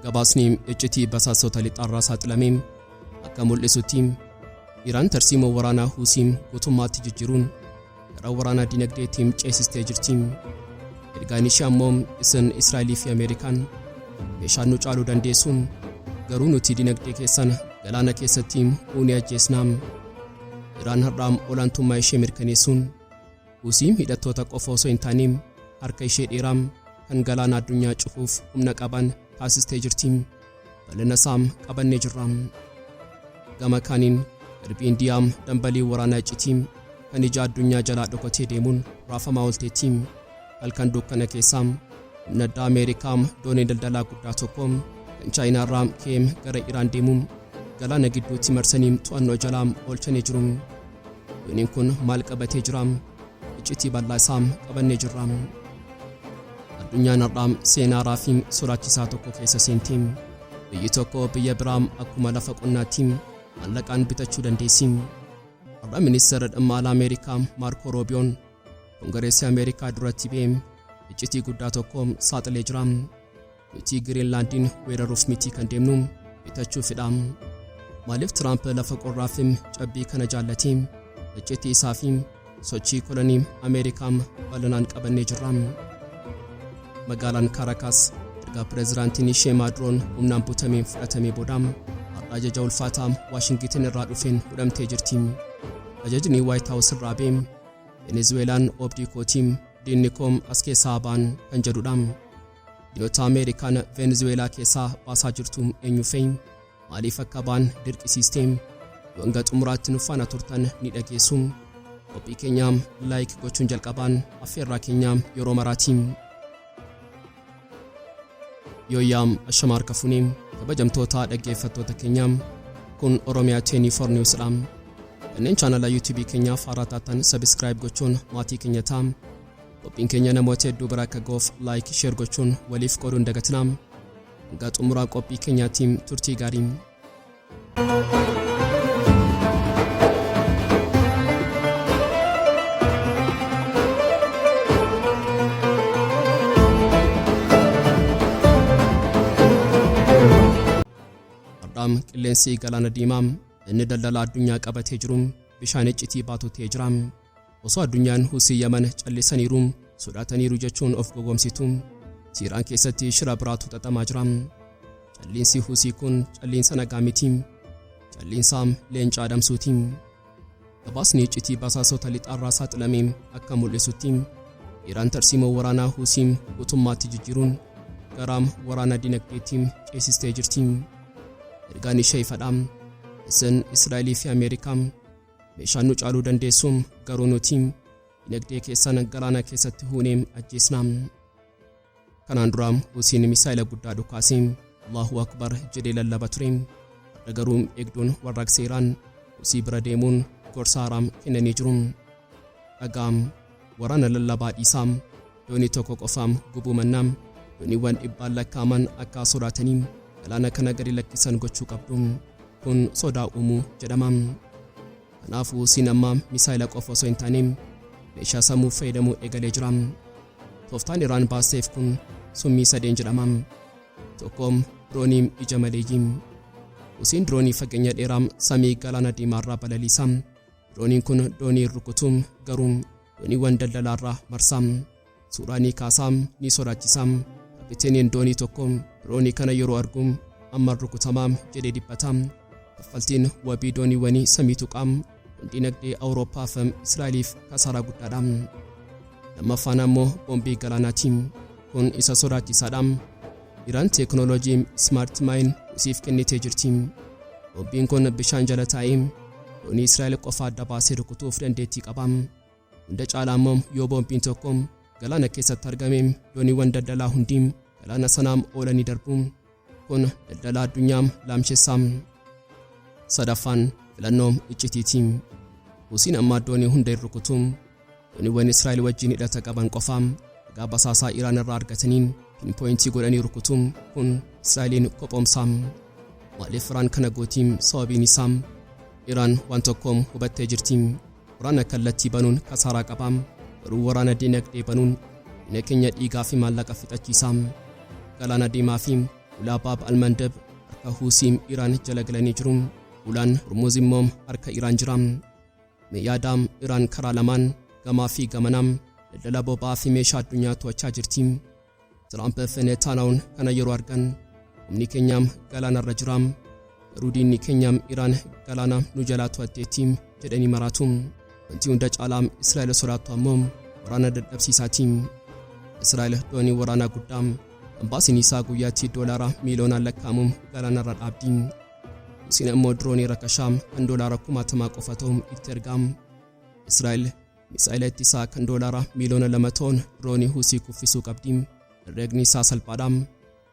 Gabaasni iccitii basaastota lixaarraa saaxilamee akka mul'isutti Iraan tarsiimoo waraanaa Huusii guutummaatti jijjiiruun gara waraanaa dinagdeetti ceesistee jirti. Ergaan ishee ammoo isin Israa'elii fi Ameerikaan meeshaan nu caaluu dandeessu garuu nuti dinagdee keessan galaana keessatti uunee ajjeesna. Iraan har'aa olaantummaa ishee mirkaneessuun Husiin hidhattoota qofa osoo hin taane harka ishee dheeraa kan galaana addunyaa cufuuf humna qaban taasistee jirti. Bal'ina isaa qabannee jirra. Gama kaaniin garbi Indiyaa dambaliin waraanaa iccitii kan ija addunyaa jalaa dhokotee deemuun raafamaa oolteetti. Halkan dukkana keessaa humna addaa Ameerikaa doonii daldalaa guddaa tokko kan Chaayinaarraa KM gara Iraan deemu galaana gidduutti marsanii to'annoo jalaa oolchanii jiru. Yoniin kun maal qabatee jira? Iccitii bal'aa isaa qabannee jirra. Addunyaan har'aa seenaa haaraa fi sodaachisaa tokko keessa seenti. Biyyi tokko biyya biraa akkuma lafa qonnaatti maallaqaan bitachuu dandeessi. Har'a ministeera dhimma alaa Ameerikaa Maarkoo Roobiyoon Kongireesii Ameerikaa duratti ba'ee iccitii guddaa tokko saaxilee jira. Nuti Giriinlaandiin weeraruuf mitii kan deemnu bitachuufidha. Maaliif Tiraamp lafa qorraa fi cabbii kana jaallati? Iccitii isaa fi sochii kolonii Ameerikaa bal'inaan qabannee jirra. Magaalaan Kaarakaas erga pireezidaantiin ishee Maaduroon humnaan butameen fudhatamee booda har'a ajaja ulfaataa Waashingitin irraa dhufeen hudhamtee jirti. Ajajni Waayit Haawus irraa ba'e Venezuweelaan obdii kootii diinni koo as keessaa ba'an kan jedhudha. Biyyoota Ameerikaan Venezuweelaa keessaa baasaa jirtu eenyu fe'i? Maaliif akka baan dirqisiistee? Yoo hanga xumuraatti nu faana turtan ni dhageessu. Qophii keenya laayik gochuun jalqabaan affeerraa keenya yeroo maraatiin. Yooyyaa ashama harka funee kabajamtoota dhaggeeffattoota keenya kun Oromiyaa 24 News dha. Kanneen chaanala YouTube keenyaaf haaraa taatan sabiskiraayib gochuun maatii keenya ta'a. Qophiin keenya namoota hedduu bira akka ga'uuf like, share gochuun waliif qooduu hin dagatinaa. Hanga xumuraa qophii keenyaatti turtii gaarii. Har'aam qilleensi galaana diimaa inni daldala addunyaa qabatee jiru bishaan iccitii baatu ta'ee jira. Osoo addunyaan Husii Yaman callisaniiru, sodaataniiru jechuun of gowwoomsitu. Siiraan keessatti shira biraatu xaxamaa jira. Calliinsi Husii kun calliinsa nagaa miti. Calliinsa leenca adamsuuti. Gabaasni iccitii basaasota lixaarraa saaxilame akka mul'isutti Iraan tarsiimoo waraanaa Husii guutummaatti jijjiiruun garaam waraana dinagdeetti ceesistee jirti. Ergaan ishee ifadha. Isin Israa'elii fi Ameerikaa Meeshaan nu caaluu dandeessu garuu nuti dinagdee keessan galaana keessatti huunee ajjeesna. Kanaan dura Husiin misaa'ila guddaa dhukaasee Allahu Akbar jedhee lallaba ture. Har'a garuu eegduun warraaqsa Iraan Husii bira deemuun gorsa haaraa kennanii jiru. Dhagaa waraana lallabaa dhiisaa. doonii tokko qofaam gubuu mannaa dooniiwwan dhibbaan lakkaa'aman akka sodaatanii galaana kana gadi lakkisan gochuu qabdu kun sodaa uumuu jedhama kanaafuu siin ammaa misaayila qofa osoo hin taane meeshaa sammuu fayyadamuu eegalee jira tooftaan iraan baasteef kun summii sadeen jedhama tokkoom dirooniim ija maleeyyii usiin diroonii fageenya dheeraa samii galaana diimaarraa balaliisa dirooniin kun doonii rukutuum garuu dooniiwwan daldalaarraa marsaa suuraa ni kaasaa ni sodaachisaa kapiteeniin doonii tokko diroonii kana yeroo argu amman rukutamaa jedhee dhiphata kaffaltiin wabii dooniiwwanii samii tuqaa kun dinagdee awuroopaaf israa'eliif kasaaraa guddaadha lammaffaan ammoo boombii galaanaatiin Kun isa sodaachisaadha. Iraan teeknooloojii Smart Mine Husiif kennitee jirti. Bombiin kun bishaan jala taa'ee doonii Israa'el qofa adda baasee rukutuuf dandeettii qaba. Hunda caalaa immoo yoo bombiin tokko galaana keessatti argame dooniiwwan daldalaa hundi galaana sanaa oolanii darbu. Kun daldala addunyaa laamshessaa. Sadaffaan filannoo iccitiiti. Husiin amma addoonii hunda hin rukutu. Dooniiwwan Israa'el wajjin hidhata qaban qofa ragaa basaasaa Iraan irraa argataniin pinpooyintii godhanii rukutu. Kun Israa'eliin qophoomsaa. Maaliif Iraan kana gootii sababiin isaa? Iraan waan tokko hubattee jirti. Waraana kallattii banuun kasaaraa qaba, garuu waraana dinagdee banuun diina keenya dhiigaa fi maallaqa fixachiisa. Galaana Diimaa fi Ulaa Baab Almandab harka Huusii Iraan jala galanii jiru. Ulaan Hormuuz immoo harka Iraan jira. Mee yaadaa Iraan karaa lamaan gamaa fi gamanaa daldala boba'aa fi meeshaa addunyaa to'achaa jirti. Tiraamp Veneetaalaawoon kana yeroo argan humni keenyaam galaanarra jiraam garuu diinni keenyaam Iraan galaana nu jalaa to'atteetti jedhanii maraatu. Wanti hunda caalaam Israa'el sodaattu ammoo waraana dadhabsiisaati. Israa'el doonii waraanaa guddaa kan baasiin isaa guyyaatti doolaara miiliyoonaan lakkaa'amu galaanarra dhaabdi. Isiin ammoo diroonii rakashaa kan doolaara kumaatamaa qofa ta'u itti ergaam. Israa'el Misaa'ela ittisaa kan doolaara miiliyoona lama ta'uun diroonii Husii kuffisuu qabdi. Herreegni isaa salphaadha.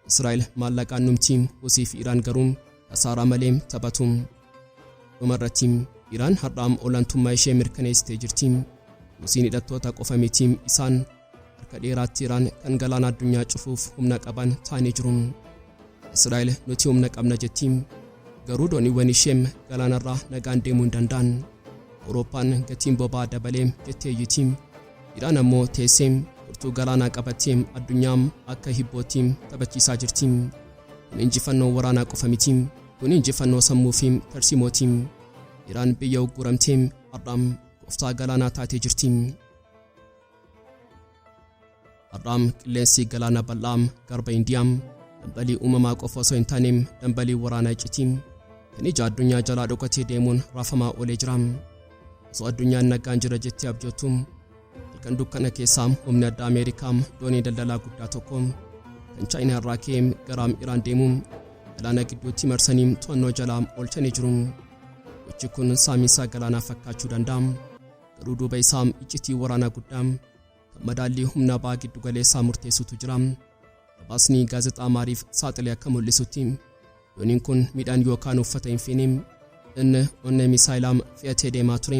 Israa'el maallaqaan dhumti, Husii fi Iraan garuu kasaaraa malee taphatu. Dhumarratti Iraan har'aa olaantummaa ishee mirkaneessitee jirti. Husiin hidhattoota qofa miti, isaan Harka dheeraatti Iraan kan galaana addunyaa cufuuf humna qaban taanii jiru. Israa'el nuti humna qabna jetti. Garuu dooniiwwan ishee galaanarraa nagaan deemuu hin danda'an. Awurooppaan gatiin boba'aa dabalee jettee iyyiti. Iraan ammoo teessee furtuu galaanaa qabattee addunyaa akka hibbootti taphachiisaa jirti. Kun injifannoo waraanaa qofa miti. Kun injifannoo sammuu fi tarsiimooti. Iraan biyya ugguramtee har'a gooftaa galaanaa taatee jirti. har'aa qilleensi galaana bal'aa garba indiyaa dhambalii uumamaa qofa osoo hin taane dhambalii waraanaa iccitii kan ija addunyaa jalaa dhokatee deemuun raafamaa oolee jira osoo addunyaan nagaan jira jettee abjoottu halkan dukkana keessaa humni addaa ameerikaa doonii daldalaa guddaa tokko kan chaayinaa irraa ka'ee garaam iraan deemu galaana gidduutti marsanii to'annoo jalaa oolchanii jiru gochi kun saamiinsaa galaanaa fakkaachuu danda'a Garuu duuba isaa iccitii waraanaa guddaa kan madaallii humnaa ba'aa giddu galeessaa murteessutu jira. Gabaasni gaazexaa maariif saaxile akka mul'isutti dooniin kun midhaan yookaan uffata hin feene inni onnee misaayilaam fe'atee deemaa ture.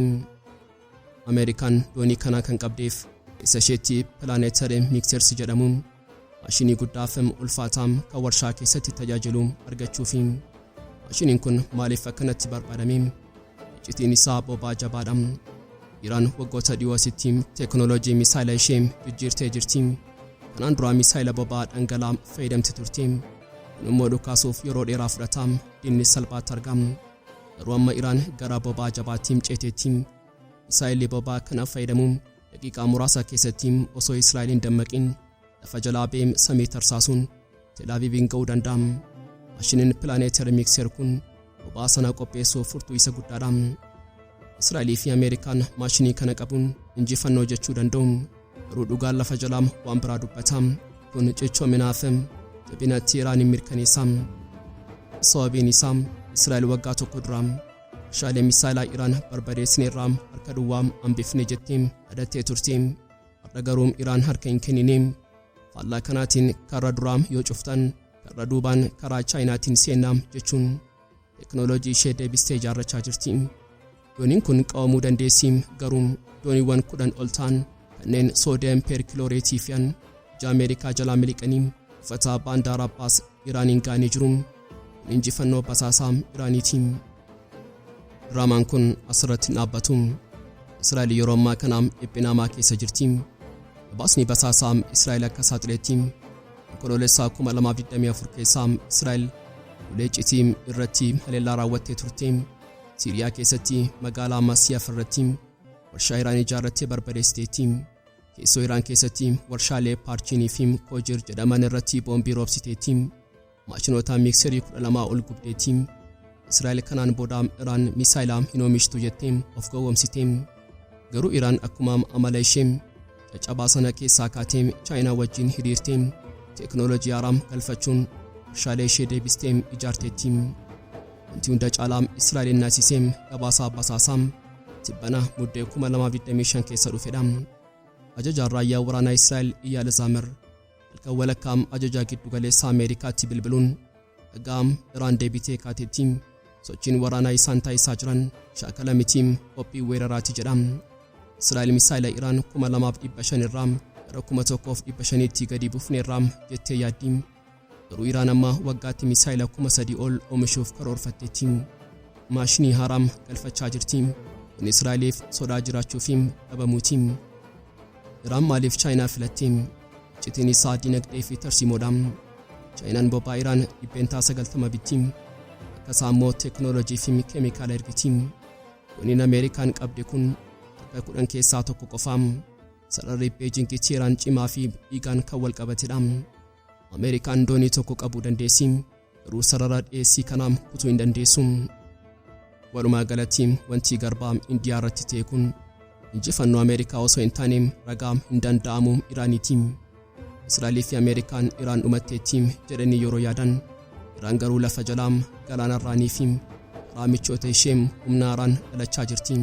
Ameerikaan doonii kanaa kan qabdeef isa isheetti pilaaneetare miikseersi jedhamu Maashinii guddaa fi ulfaataa kan warshaa keessatti tajaajilu argachuufi. Maashiniin kun maaliif akkanatti barbaadame? Iccitiin isaa bobaa jabaadha. Iraan waggoota dhiyoo asitti teeknooloojii misaayila ishee jijjiirtee jirti. Kanaan duraa misaayila bobaa dhangala'aa fayyadamti turte. Kun immoo dhukaasuuf yeroo dheeraa fudhata, diinni salphaatti argama. Garuu amma Iraan gara bobaa jabaatti ceeteetti. Misaayilli bobaa kana fayyadamu Daqiiqaa muraasa keessatti osoo Israa'el hin dammaqin lafa jalaa beem samii tarsaasuun Telaaviiviin ga'uu danda'a. Maashiniin pilaaneetar miikseer kun boba'aa sana qopheessuuf furtuu isa guddaadha. Israa'elii fi Ameerikaan maashinii kana qabuun injifannoo jechuu danda'u. Garuu dhugaan lafa jalaam waan biraa dubbata. Kun cichoominaa fi jabina Teeraaniin mirkaneessa. Sababiin isaa Israa'el waggaa tokko dura Meeshaalee misaayilaa Iraan barbadeessineerraa harka duwwaa hambifne jetti dhadattee turti. Har'a garuu Iraan harka hin kennine. Faallaa kanaatiin karra duraa yoo cuftan karra duubaan karaa Chaayinaatiin seenna jechuun teknooloojii ishee deebistee ijaarrachaa jirti. Dooniin kun qabamuu dandeessi garuu dooniiwwan kudhan ol ta'an kanneen soodiyam peerkilooreetii fe'an ija Ameerikaa jalaa miliqanii buufata baandaara Abbaas Iraaniin ga'anii jiru. Injifannoo basaasaa Iraaniitiin. Diraamaan kun asirratti hin dhaabbatu. Israa'el yeroo ammaa kana dhiphinaamaa keessa jirti. Gabaasni basaasaa Israa'el akka saaxileetti onkoloolessaa 2024 keessaa Israa'el ulee iccitii irratti haleellaa raawwattee turte. Siiriyaa keessatti magaalaa Masiyaf irratti warshaa Iraan ijaarrattee barbadeessiteetti. Keessoo Iraan keessatti warshaalee Paarchiinii fi Koojir jedhaman irratti boombii roobsiteetti. Maashinoota miikserii 12 ol gubdeeti. Israa'el kanaan booda Iraan misaayila hin oomishtu jettee of gowwoomsite. Garuu Iraan akkuma amala ishee caccabaa sana keessaa kaatee Chaayinaa wajjin hiriirtee teeknooloojii haaraa galfachuun warshaalee ishee deebistee ijaarteetti. Wanti hunda caalaa Israa'elin naasisee gabaasaa basaasaa tibbana muddee 2025 keessa dhufedha. Ajajaan raayyaa waraanaa Israa'el Iyaal Zaamir Halkan walakkaa ajajaa giddugaleessaa Ameerikaatti bilbiluun egaa Iraan deebitee kaateetti sochiin waraanaa isaan taasisaa jiran shaakala miti qophii weeraraati jedha. Israa'el misaayila Iraan 2500 irraa gara 1500tti gadi buufneerra jettee yaaddi. Garuu Iraan amma waggaatti misaayila 3000 ol oomishuuf karoorfatteetti. Maashinii haaraam galfachaa jirti. Kun Israa'eliif sodaa jiraachuu fi dhabamuuti. Iraan maaliif Chaayinaa filatte? Iccitiin isaa dinagdee fi tarsiimoodha. Chaayinaan boba'aa Iraan dhibbeentaa 90 bitti. Akka isaa immoo teeknooloojii fi keemikaala ergiti. Dooniin Ameerikaan qabde kun takka kudhan keessaa tokko qofa. Sararri Beejingi Teeraan cimaa fi dhiigaan kan wal qabatedha. Ameerikaan doonii tokko qabuu dandeessi. Garuu sarara dhiyeessii kana kutuu hin dandeessu. Walumaa galatti wanti garbaa Indiyaa irratti ta'e kun injifannoo Ameerikaa osoo hin taane ragaa hin danda'amu Iraaniiti. Israa'elii fi Ameerikaan Iraan dhumatteetti jedhanii yeroo yaadan Iraan garuu lafa jalaa galaanarraanii fi karaa michoota ishee humna haaraan dhalachaa jirti.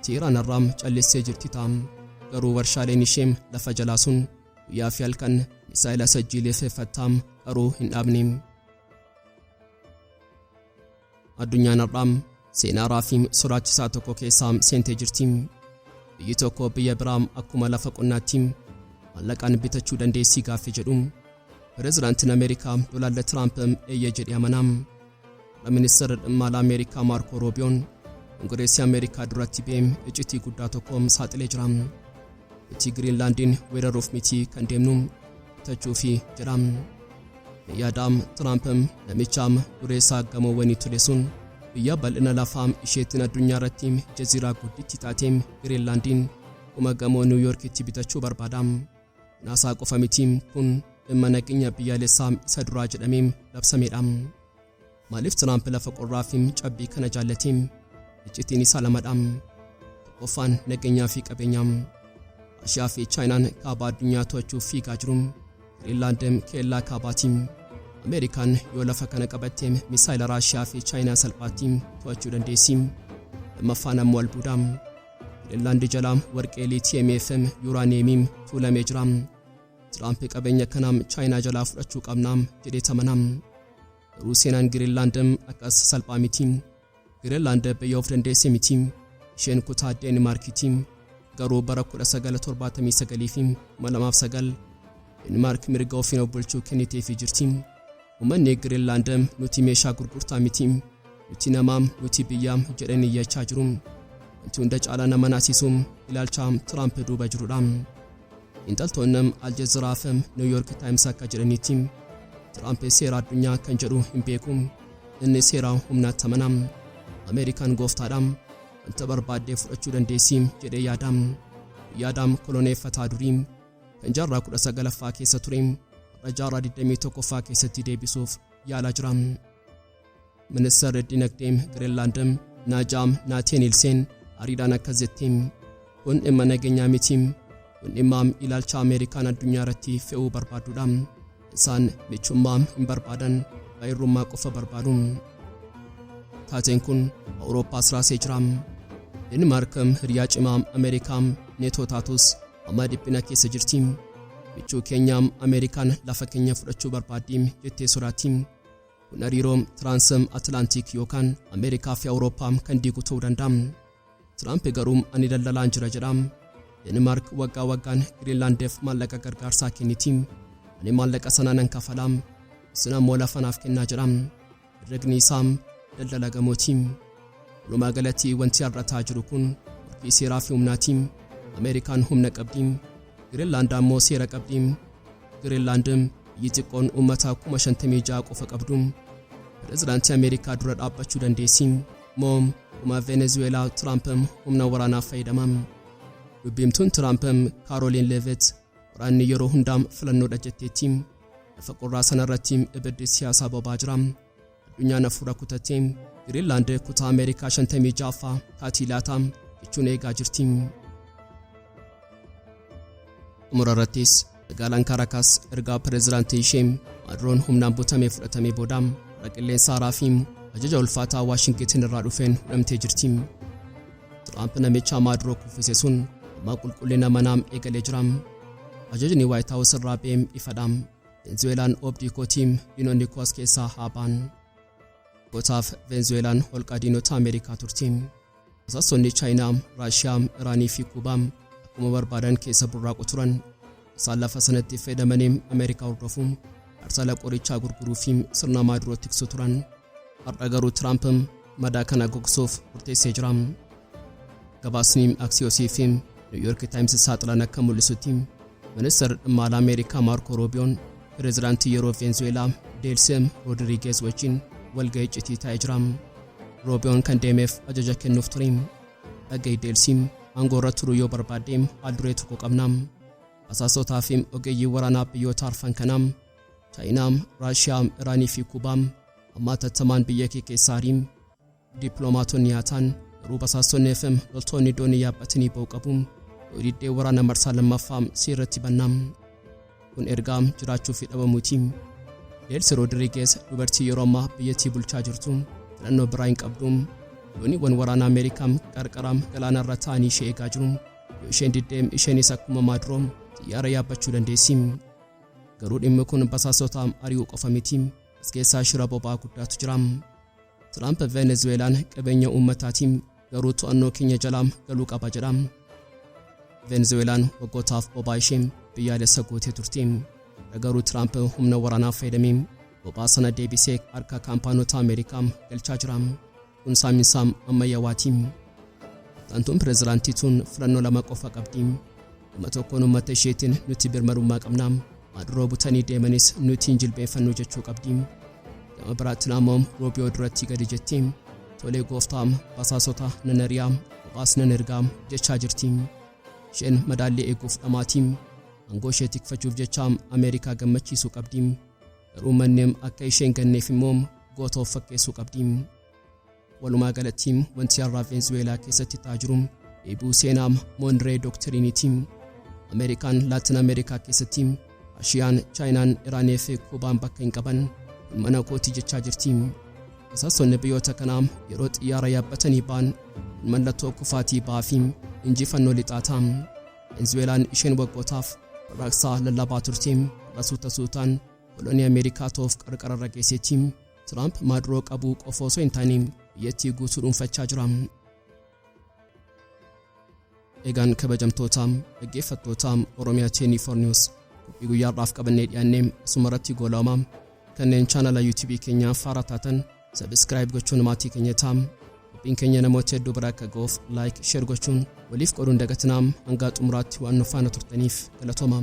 Tiiraan irraa callistee jirti ta'a. Garuu warshaaleen ishee lafa jalaa sun Guyyaa fi halkan misaa'ela sajjiileeffeeffattaa garuu hin dhaabne. Addunyaan har'aa seenaa haaraa fi sodaachisaa tokko keessaa seentee jirti. Biyyi tokko biyya biraa akkuma lafa qonnaatti maallaqaan bitachuu dandeessii gaaffii jedhu. Pireezidaantiin Ameerikaa Doonaald Tiraamp eeyyee jedhee amanaa. Ministeerri dhimma alaa Ameerikaa Maarkoo Roobiyoon Kongireesii Ameerikaa duratti beem iccitii guddaa tokko saaxilee jira. Nuti Giriinlaandiin weeraruuf miti kan deemnu bitachuufi jedha. Yaadaam Tiraampiim namichaam dureessaa gamoowwanii ture sun biyya bal'ina lafaa isheettiin addunyaa irratti jaziiraa gudditti taatee Giriinlaandiin kuma gamoo Niwuyoorkitti bitachuu barbaada. Naasaa qofa miti kun dhimma nageenya biyyaalessaa isa duraa jedhamee labsameedha. Maaliif Tiraamp lafa qorraa fi cabbii kana jaallate? Iccitiin isaa lamadha. Tokkoffaan nageenyaa fi qabeenyaa. Raashiyaa fi Chaayinaan kaaba addunyaa to'achuuf fiigaa jiru. Giriinlaand keellaa kaabaati. Ameerikaan yoo lafa kana qabatte misaayila Raashiyaa fi Chaayinaa salphaatti to'achuu dandeessi. Lammaffaan ammoo albuuda. Finlaand jala warqee liitiyeemii FM yuuraaniyeemii tuulamee jira. Tiraamp qabeenya kana Chaayinaa jalaa fudhachuu qabna jedhee tamana. Garuu seenaan Giriinlaand akkas salphaa miti. Giriinlaand biyya of dandeesse miti. Isheen kutaa Deenmaarkiiti. Garuu bara 1979 fi 2009 Deenmaark mirga ofiin of bulchuu kenniteefii jirti. Ummanni Giriinlaand nuti meeshaa gurgurtaa miti, nuti namaa, nuti biyya jedhanii iyyachaa jiru. Wanti hunda caalaa nama naasisu ilaalcha Tiraamp duuba jirudha. Xiinxaltoonni Al Jazeera fi New York Times akka jedhanitti Tiraamp seera addunyaa kan jedhu hin beeku. Inni seera humnaatti amana. Ameerikaan gooftaadha. Wanta barbaadde fudhachuu dandeessi jedhee yaada. Yaadaam koloneeffataa durii. Jaarraa 19ffaa keessa ture har'a jaarraa 21ffaa keessatti deebisuuf yaalaa jira. Ministeerri dinagdee Giriinlaand Naajaam Naateen Ilseen ariidhaan akkas jetti. Kun dhimma nageenyaa miti. Kun dhimma ilaalcha Ameerikaan addunyaa irratti fe'uu barbaadudha. Isaan michummaa hin barbaadan, abbaa irrummaa qofa barbaadu. Taateen kun Awurooppaas raasee jira. Deenmaark hiriyaa cimaa Ameerikaa neetoo taatus amma dhiphina keessa jirti. Michuu keenya Ameerikaan lafa keenya fudhachuu barbaaddi jettee sodaatti. Kun hariiroo Tiraansm Atilaantiik yookaan Ameerikaa fi Awurooppaa kan diigu ta'uu danda'a. Tiraamp garuu ani daldalaan jira jedha. Denimaark waggaa waggaan Giriinlaandeef maallaqa gargaarsaa kenniti. Ani maallaqa sana nan kafala. Isin ammoo lafa naaf kennaa jedha. Herregni isaa daldala gamooti. Walumaa galatti wanti har'ataa jiru kun morkii seeraa fi humnaati. Ameerikaan humna qabdi. Giriinlaand ammoo seera qabdi. Giriinlaand biyyi xiqqoon uummata 56,000 qofa qabdu. Pirezidaantii Ameerikaa dura dhaabbachuu dandeessi. moo kuma Venezuweelaa Tiraamp humna waraanaaf fayyadama? Dubbiimtuun Tiraamp Kaarooliin Leevet waraanni yeroo hundaa filannoodha jetteetti. Lafa qorraa sanarratti ibiddi siyaasaa bobaa jira. Addunyaan hafuura kutatte Giriinlaand kutaa Ameerikaa 56ffaa kaatii laata jechuun eegaa jirti. Xumura irrattis magaalaan Kaarakaas ergaa pireezidaantii ishee Maaduroon humnaan butamee fudhatamee booda warra qilleensa haaraa fi ajaja ulfaataa Waashingitin irraa dhufeen hudhamtee jirti. Tiraamp namicha Maaduroo kuffise sun amma qulqullina manaam eegalee jira. Ajajni Waayit Haawus irraa ba'eem ifadha. Veenzuweelaan obdii kootiim diinonni koos keessaa haa ba'an. Gootaaf Veenzuweelaan holqa diinota Ameerikaa turti. Basaastonni Chaayinaa, Raashiyaa, Iraanii fi Kuubaa akkuma barbaadan keessa burraaqu turan. Isaan lafa sanatti fayyadamanii Ameerikaa hordofu, arsala qorichaa gurguruu fi sirna maaduroo tiksu turan. Har'a garuu Tiraamp madaa kana gogsuuf murteessee jira. Gabaasni Aksiyosii fi Niwuyoorki Taayims saaxilan akka mul'isutti Ministir Dhimmaala Ameerikaa Maarkoo Roobiyoon Pireezidaantii yeroo Veenzuweelaa Deelseem Roodirigeez wajjin walga'ii iccitii taa'ee jira. Roobiyoon kan deemeef ajaja kennuuf ture. Dhaga'ii Deelsiim aangoo irra turuu yoo barbaadde haal duree tokko qabna. Basaastootaa fi ogeeyyii waraanaa biyyoota arfan kanaa Chaayinaa, Raashiyaa, Iraanii fi Kuubaa ammaa tattamaan biyya kee keessaa ariin Dippiloomaatonni Yaataan, garuu basaastonni FM loltoonni doonii yaabbatanii ba'u qabu. Yoo diddee waraana marsaa lammaffaa si irratti bannaam. Kun ergaa jiraachuu fi dhabamuuti. Deelsi Roodirigees dubartii yeroo ammaa biyyattii bulchaa jirtu filannoo biraa hin qabdu. Dooniiwwan waraana Ameerikaa qarqara galaana irra taa'anii ishee eegaa jiru. Yoo isheen diddee isheenis akkuma maadroo xiyyaara yaabbachuu dandeessi. Garuu dhimmi kun basaastota ari'uu qofa miti. As keessaa shira boba'aa guddaatu jira. Tiraamp Venezuweelaan qabeenya uummataati garuu to'annoo keenya jalaa galuu qaba jedha. Venezuweelaan waggootaaf bobaa ishee biyyaalessa gootee turte. Garuu Tiraamp humna waraanaa fayyadamee bobaa sana deebisee harka kaampaanota Ameerikaa galchaa jira. Kun saaminsaa ammayyawaati. Tantuun pirezidaantii tun filannoo lama qofa qabdi. Gama tokkoon uummata isheetiin nuti birmadummaa qabna. Maaduroo butanii deemanis nuti hin jilbeeffannu jechuu qabdi. Gama biraatti Laamoom Roobiyoo duratti gadi jetti. Tolee gooftaa basaasota nan ari'aa kophaas nan ergaa jechaa jirti. Isheen madaallii eeguuf dhamaati. Aangoo ishee tikfachuuf jecha Ameerikaa gammachiisuu qabdi. Garuu manneem akka isheen ganneef immoo goota of fakkeessuu qabdi. Walumaa galatti wanti har'aa Veenzuweelaa keessatti ta'aa jiru dheebuu seenaa Moonree Doktiriiniiti. Ameerikaan Laatin Ameerikaa keessatti Raashiyaan, Chaayinaan, Iraanii fi Kuubaan bakka hin qaban kun mana kooti jechaa jirti. Basaastonni biyyoota kanaa yeroo xiyyaara yaabbatanii ba'an kun mallattoo kufaatii ba'aa fi injifannoo lixaa ta'a. Veenzuweelaan isheen waggootaaf warraaqsaa lallabaa turte har'a suuta suutaan kolonii Ameerikaa ta'uuf qarqara irra geesseetti. Tiraamp maaduroo qabuu qofa osoo hin taane biyyattii guutuu dhuunfachaa jira. Egaan kabajamtoota dhaggeeffattoota Oromiyaa 24 News qophii guyyaa har'aaf qabannee dhiyaannee asuma irratti goolaama kanneen chaanala YouTube keenyaa faaraa taatan sabiskiraayib gochuun maatii keenya ta'a. Qophiin keenya namoota hedduu bira akka ga'uuf laayik sheer gochuun waliif qooduun dagatinaa hangaa xumuraatti waan nu faana turtaniif galatoomaa.